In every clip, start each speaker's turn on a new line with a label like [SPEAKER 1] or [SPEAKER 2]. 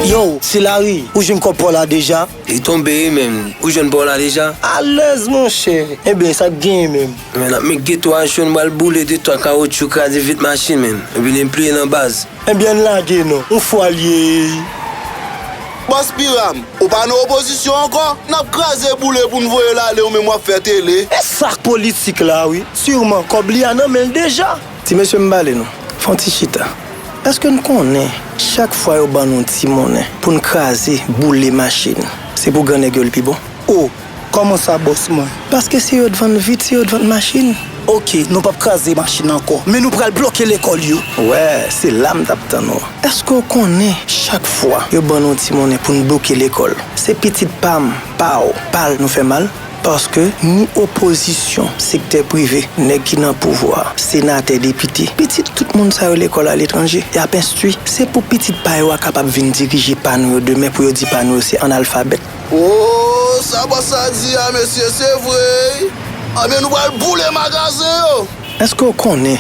[SPEAKER 1] Yow se lari ou jwenn kòb paw la deja? Li tonbe wi menn,
[SPEAKER 2] ou jwenn paw la deja? Alèz monchè,
[SPEAKER 1] enben sak genyen menm? Menn ap met geto a
[SPEAKER 2] cho nou bal boule de twa kawotchou kraze vit machin menn, epi li enpliye nan baz. Ebyen lage
[SPEAKER 1] non, on fwa l ye
[SPEAKER 3] Bòs Piram, ou pa nan opozisyon ankò? N ap kraze boule pou n voye l ale ou menm w ap fè tele. E sak politik
[SPEAKER 1] la wi, surman kòb li a nan men l deja. Ti mesye m pale
[SPEAKER 4] nou, fè yon ti chita. Eske n konnen chak fwa yo ban nou ti monnen pou n kraze, boule machin, se pou gran nèg yo li pi bon? O! Koman
[SPEAKER 1] sa boss mwen? Paske si yo t vann
[SPEAKER 4] vit si yo t vann machine. Ok nou pap
[SPEAKER 1] kraze machine anko men nou pral bloke lekol yo. Wè se la m
[SPEAKER 4] tap tann ou. Eske ou konnen chak fwa yo ban nou ti monnen pou n bloke lekol se pitit pa m pa w pa l nou fè mal paske ni opozisyon sektè prive nèg ki nan pouvwa senatè depite pitit tout moun sa yo lekol aletranje yap enstwi se pou pitit pa yo a kapab vin dirije pa nou yo demen pou yo di pa nou yo se analfabèt. Ooh
[SPEAKER 3] sa bòs sa di a mesye se vre ui anbyen nou pral boule magazen yo. Eske w konnen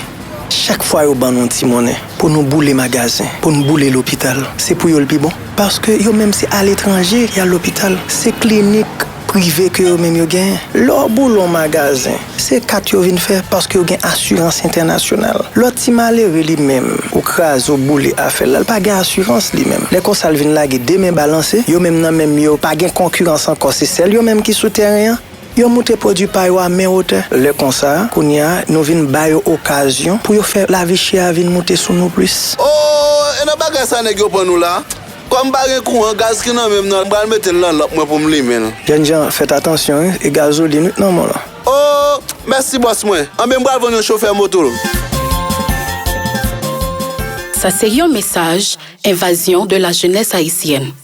[SPEAKER 4] chak fwa yo ban nou yon ti monnen pou nou boule magazen, pou nou boule lopital se pou yo l pi bon paske yo menm se aletranje y al lopital se klinik prive ke yo menm yo genyen lè w boule yon magazen Se kat yo vin fè paske yo gen asirans entènasyonal. Lòt ti malere li menm ou kraze ou boule afèl la l pa gen asirans li menm. Lè konsa l vin lage 2 men balanse, yo menm nan menm yo pa gen konkirans ankò se sèl yo menm ki sou tèren an. Yo moute pwodui pa yo a men wotè. Lè konsa, kounye a, nou vin ba yo okazyon pou yo fè lavi chè a vin moute sou nou plis. Oo e nan
[SPEAKER 3] bagay sa nèg yo pran nou la. Kòm pa gen kouran gaz ki nan menm nan m pral metel nan lanp mwen poum limen l. Jènjan fèt atansyon
[SPEAKER 4] wi e gazolin wi k nan menw lan. Oh mèsi
[SPEAKER 3] bòs mwen. Anben m pral vann yon chofè moto l.
[SPEAKER 5] Sa se yon mesaj envazyon de la jenès ayisyèn.